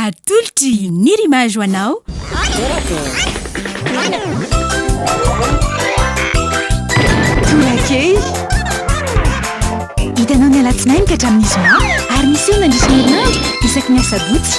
Atolotry ny rimage ho anao. Tolakely. Hitanao ny alatsinainy ka hatramin'ny zoma ary miseho mandritra ny herinandro isaky ny asabotsy.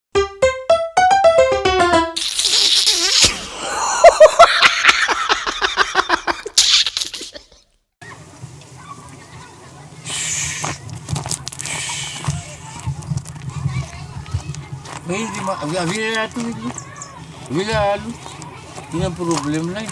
Avila tu ini. Avila alu. Ini problem lain.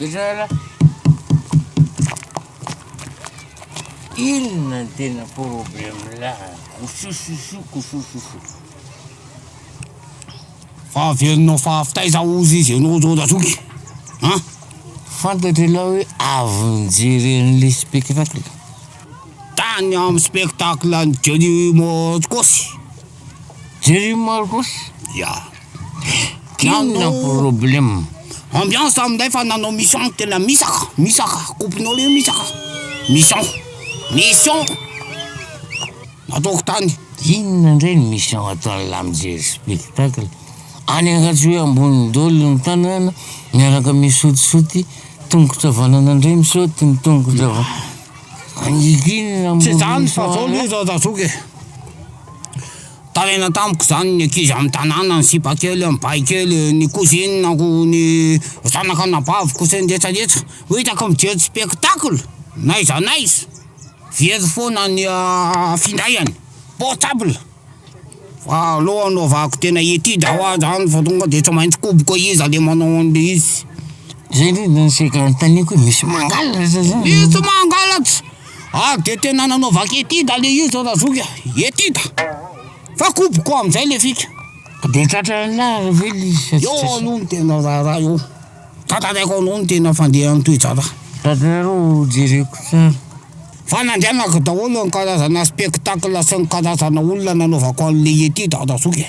Misaotra. Inona ny tena problème là Kosososo, kosososo. Fa averinao fa avy taiza ozy izy ianao zao Razoky? Ha? Fantatry ialahy hoe avy nijery an'ilay spectacle. Tany amin'ny spectacle an'i Johnny Moscos. Jereo Marcos ya. Inona problème. Ambiance amin'izay fa nanao mission tena misaka misaka coupe-nao le misaka mission mission nataoko tany. Inona indray ny mission ataon'ny lahy mijery spectacle any Ankajoy ambonin'ny dolo ny tanana miaraka misotisoty tongotra vanana indray misaoty ny tongotra vanana. Angigina Tsy ambony izany fa zao misaoty. aloha zao tazoky e. Taraina tamiko izany ny ankizy amin'ny tanàna, ny sipa kely amin'ny bay kely, ny kozininako, ny zanaka anabaviko sy ny retsaretsa. Ho hitako mijery spektakla n'aiza n'aiza, very foana ny findainy, portable, fa aleo anaovako tena étude ho ahy izany fa tonga dia tsy maintsy koboko iza le manao an'ilay izy, zay aloha no sehatra anontaniako hoe misy mangalatra sa zany? Misy mangalatra. Ary dia tena nanaovako etida le izy ry razoky a, etida, fa koboko amin'izay le fika. Dia tratranao ve le izy sa tsy tratranao? Eo aloha no tena raharaha eo, tantaraiko anao ny tena fandehan'ny toe-javatra. Tantarao ho jereko tsara. Fa nandrianako daholo ny karazana spectacle sy ny karazana olona nanaovako an'ilay etida ry razoky e.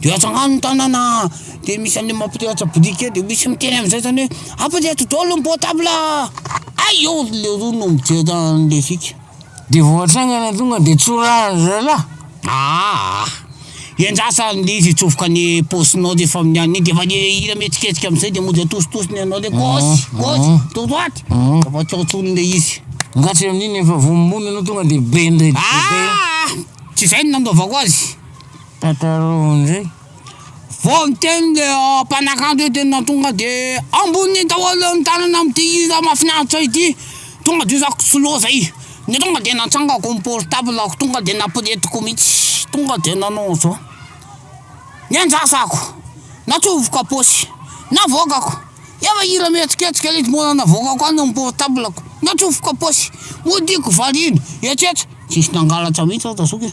de atsy agnano ny tanana de misy anle mampirehatra brique de misy miteny amizay zany hoe ampireto daholo ny portable hay eo le roa no mijery anle fika de vao atsangana tonga de tsorahiny zalah, aa endraso ary le izy hitsofoka any paosinao refa amin'ny alina iny de efa le hira mihetsiketsika amizay de mody atositosiny anao le gauche gauche droite de vao atao tsony le izy, nga tsy amin'iny efa voa mony anao tonga de be ndray, aa tsy zay no nanaovako azy. Tantaraho ndray fa teny le mpanakanto io teny nahatonga de amboniny daholo ny tanana amty hira mafinaritra ity tonga de zako tsy loha zay de tonga de natsangako ny portablako tonga de naporetiko mitsy tonga de nanao anzao niandrasako natsofoka aposy navoakako efa hira mihetsiketsika le mbola navoakako any am portablako natsofoka aposy modiako variana etsetra tsisy nangalatra mitsy aho ta zoky e.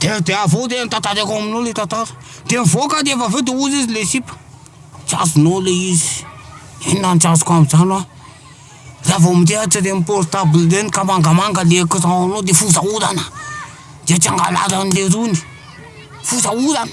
de de avy eo de notantaraiko aminao le tantara de nivoaka de avy eo de hozy izy le sipa tsy azonao le izy inona no tsy azoko am'zany hoa za vao mirehatry reny portable reny ka mangamanga le écran-nao de foza orana de tsy hangalary an'le rony foza orana.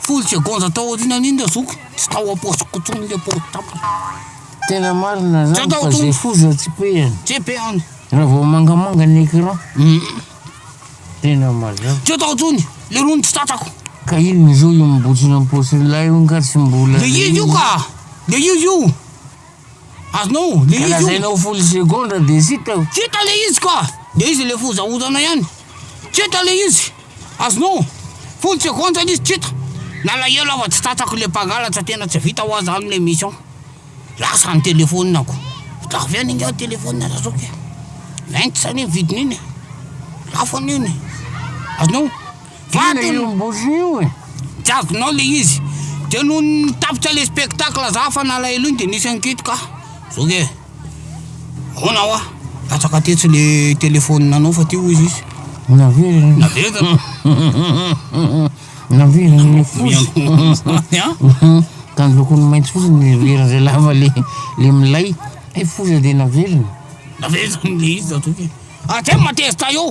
Folo tsy agonja tao aoriana an'iny le zoky, tsy tao ampaosiko intsony le portable. Tena marina zany fa ze foza tsy pehany. Tsy pehany. Raha vao mangamanga ny écran. Tena mazava. Tsy tao intsony, le rony tsy tratrako. Ka inona zao io mibotsina am-paosin'ilay io nga tsy mbola. Le io io ka! Le io io! Azonao le izy io. Ka lazaina ho folo segondra de zita eo. Keta le izy ka! De izy le fozaozana ihany. Keta le izy. Azonao. Folo segondra le izy keta. Nalahelo aho fa tsy tratrako le mpangalatra tena tsy vita hoa zany le mission. Lasa ny telephone ko. Vita avy any nga telephone Razoko e. Vingts anie ny vidiny iny e. Lafo anie iny e. Azonao. Vato io bougie io e. Tsy azonao le izy. De noho ny tapitra le spectacle za fa nalahelo iny de nisy ankihitrika ah. Zao ke. Ahoana hoa? Latsaka tetsy le téléphone nanao fa ty hoy izy. Naveriny. Naveriny. Naveriny ny foza. Ka ny lokony mainty fotsiny ny vera zay lava le le milay. Ay foza de naveriny. Naveriny le izy zatovo. Ah, tsy matezitra io.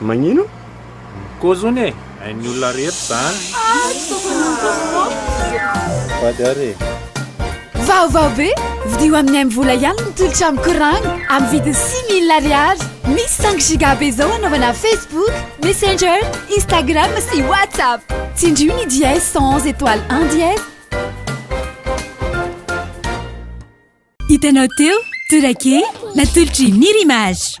Magnino? Koa zony e, hain'ny olona rehetra zany. Vady ary e. Vaovao be! Vidio amin'ny MVola ihany ny tolotra amin'ny courant amin'ny vidiny six mille ariary. Misy cinq giga be izao hanaovana Facebook, Messenger, Instagram sy WhatsApp. Tsindrio ny dièse cent onze étoile un dièse. Hitanao teo, Tourake, natolotry ny Nir'Image.